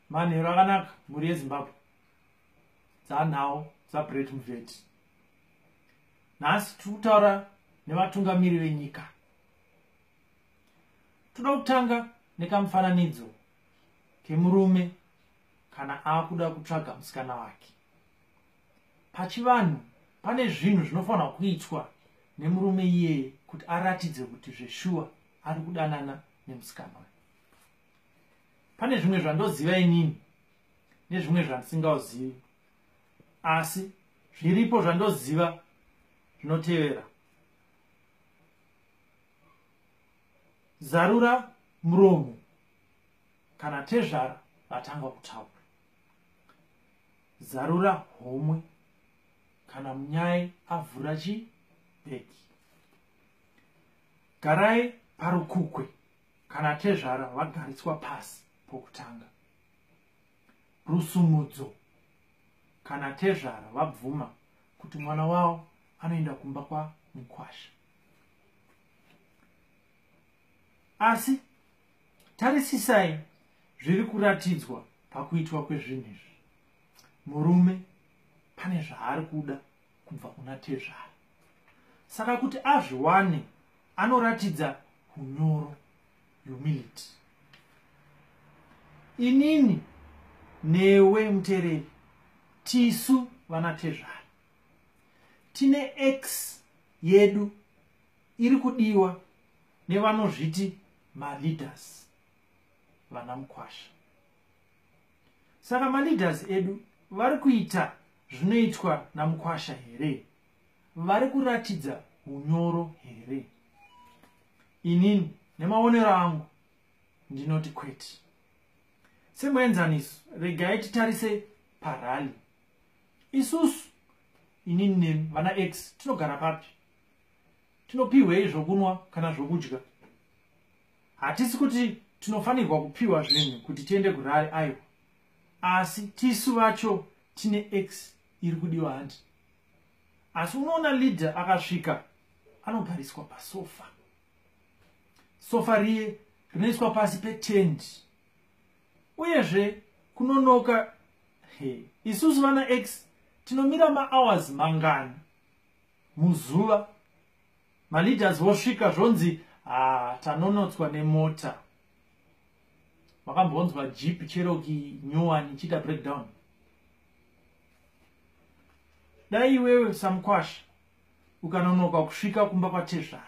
manhero akanaka mhuri yezimbabwe dzanhawo dzabret muvet nhasi tiri kutaura nevatungamiri venyika toda kutanga nekamufananidzo kemurume kana akuda kutsvaga musikana wake pachivanhu pane zvinhu zvinofanirwa kuitwa nemurume iyeye kuti aratidze kuti zveshuwa ari kudanana nemusikana pane zvimwe zvandoziva inini nezvimwe zvandisingauzivi asi zviripo zvandoziva zvinotevera zarura muromo kana tezvara vatanga kutaura zarura homwe kana munyai avhura chibheki garai parukukwe kana tezvara vagariswa pasi pokutanga rusumudzo kana tezvara vabvuma kuti mwana wavo anoenda kumba kwamukwasha asi tarisisai zviri kuratidzwa pakuitwa kwezvinhu izvi murume pane zvaari kuda kubva kuna tezvara saka kuti azviwane anoratidza unyoro humility inini newe mutereri tisu vana tezvara tine x yedu iri kudiwa nevanozviti maleaders vana mukwasha saka maleaders edu vari kuita zvinoitwa namukwasha here vari kuratidza unyoro here inini nemaonero angu ndinoti kwete semuenzaniso regai titarise parali isusu inini nemi vana x tinogara papi tinopiwei zvokunwa kana zvokudya hatisi kuti tinofanirwa kupiwa zvinhu kuti tiende kurari aiwa asi tisu vacho tine x iri kudiwa hanti asi unoona leader akasvika anogariswa pasofa sofa riye rinoiswa pasi petendi uyezve kunonoka hey. isusu vana x tinomira mahours mangani muzuva maleaders vosvika zvonzi ha ah, tanonotswa nemota wakambonzwa jeep cherokee nyowani ichiita breakdown dai iwewe samukwasha ukanonoka kusvika kumba kwatezvara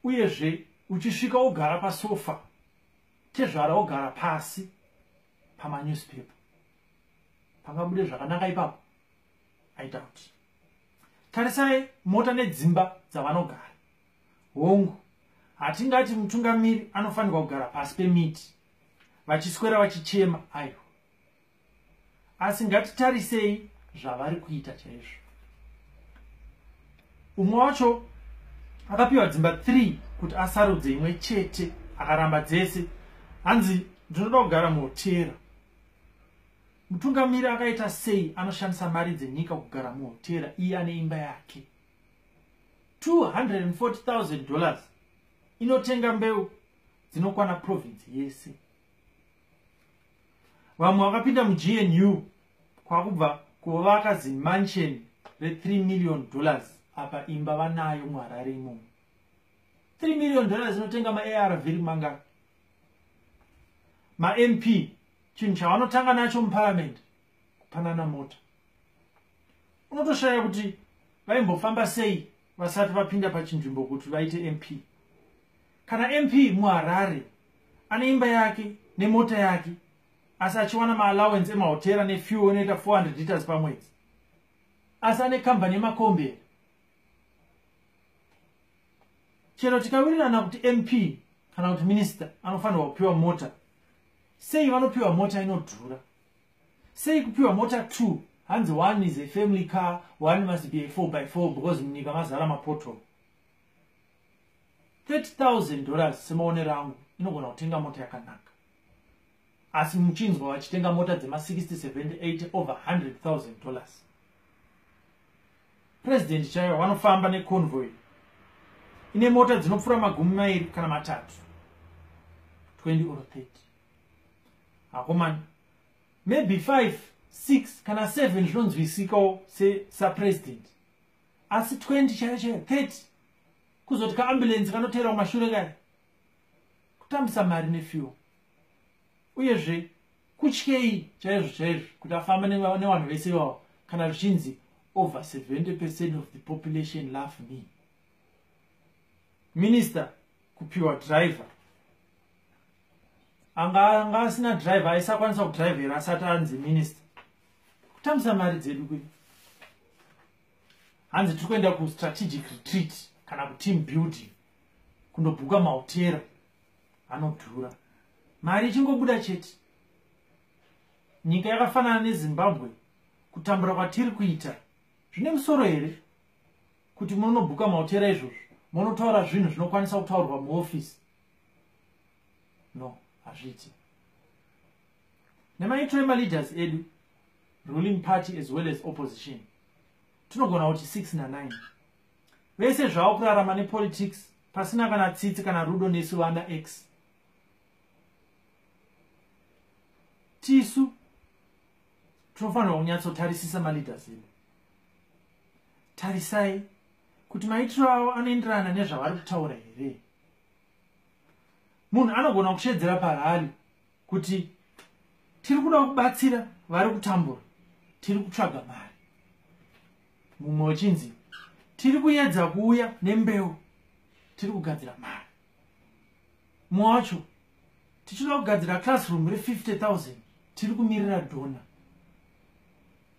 uyezve uchisvika wogara pasofa tezvara wogara pasi pamanewspaper pangabude zvakanaka ipapo aita kuti tarisai mota nedzimba dzavanogara hongu hatingati mutungamiri anofanirwa kugara pasi pemiti vachiswera vachichema aiwa asi ngatitarisei zvavari kuita chaizvo umwe wacho akapiwa dzimba 3 kuti asarudze imwe chete akaramba dzese hanzi ndinoda kugara muhotera mutungamiri akaita sei anoshandisa mari dzenyika kugara muhotera iye ane imba yake 240,000 dollars inotenga mbeu dzinokwana province yese vamwe vakapinda mugnu kwakubva kuvaka zimansion re3 million dollars apa imba vanayo muharare imomo 3 million dollars inotenga maarv ri mangaka mamp chinhu chavanotanga nacho muparamendi kupanana mota unotoshaya kuti vaimbofamba sei vasati vapinda pachinzvimbo kuti vaite mp kana mp muharare ane imba yake nemota yake asi achiwana maallowance emahotera nefuel inoita 400 liters pamwedzi asi ane kambani yemakomberi chero tikawirirana kuti mp kana kuti minista anofanirwa kupiwa mota sei vanopiwa mota inodhura sei kupiwa mota two hanzi one is a family car one must be a four by four because munyika mazara mapoto 30000 dollars semaonero angu inogona kutenga mota yakanaka asi muchinzwa vachitenga mota dzema 678 over 100000 dollars president chaivo vanofamba neconvoy ine mota dzinopfuura magumi mairi kana matatu 20 or 30 akomana maybe 5 6 kana 7 zvinonzwisikawo sesapresident asi 20 chaiyo chaiyo 30 kuzoti kaambulensi kanoteera kumashure kaya kutambisa mari nefuel uyezve kutyei chaizvo chaizvo kuti afamba nevanhu vese ivavo kana zvichinzi over 70 percent of the population love me minister kupiwa driver anga anga asina driver aisakwanisa kudrivera asati anzi minista kutambisa mari dzedu kwe hanzi tiri kuenda kustrategic retreat kana kuteam building kundobhuka mahotera anodhura mari ichingobuda chete nyika yakafanana nezimbabwe kutambura kwatiri kuita zvine musoro here kuti munonobhuka mahotera izvozvo monotaura zvinhu zvinokwanisa kutaurwa muofisi no hazviiti nemaitiro emaleaders edu ruling party as well as opposition tinogona kuti 6 na9 vese zvavo kurarama nepolitics pasina kana tsitsi kana rudo nesu vana x tisu tinofanirwa kunyatsotarisisa maleaders edu tarisai kuti maitiro avo anoenderana nezvavari kutaura here munhu anogona kusheedzera parali kuti tiri kuda kubatsira vari kutambura tiri kutsvaga mari mumwe wechinzi tiri kuyedza kuuya nembeu tiri kugadzira mari mumwe wacho tichida kugadzira classroom re 50 000 tiri kumirira dona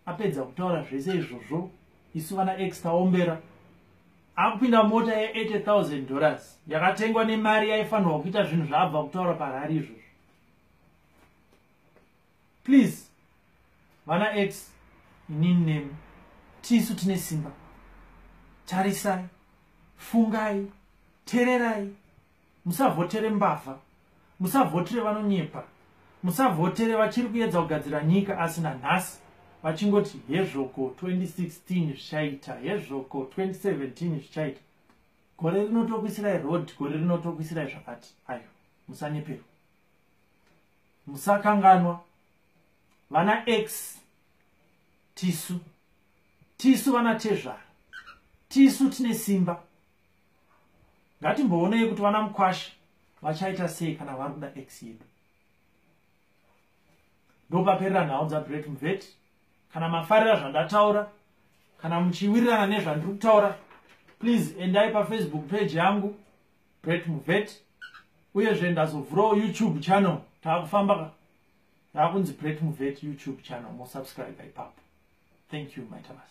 apedza kutaura zvese izvozvo isu vana x taombera akupinda mota ye80000 dollars yakatengwa nemari yaifanirwa kuita zvinhu zvaabva kutaura parari izvozvo please vana x inini nemi tisu tine simba tarisai fungai tererai musavhotere mbavha musavhotere vanonyepa musavhotere vachiri kuedza kugadzira nyika asi nanhasi vachingoti hezvoko 2016 zvichaita hezvoko 2017 zvichaita gore rinotokuisirai road gore rinotokuisirai zvakati ayo musanyeperwa musakanganwa vana x tisu tisu vana tezvara tisu tine simba ngatimboonei kuti vana mukwasha vachaita sei kana vari kuda x yedu ndopaperera nhau dzabret muveti kana mafarira zvandataura kana muchiwirirana nezvandiri kutaura please endai pafacebook page yangu bret muvet uyezve ndazovhurawo youtube channel taakufamba taakunzi bret muvet youtube channel mosubscribe ipapo thank you maitamas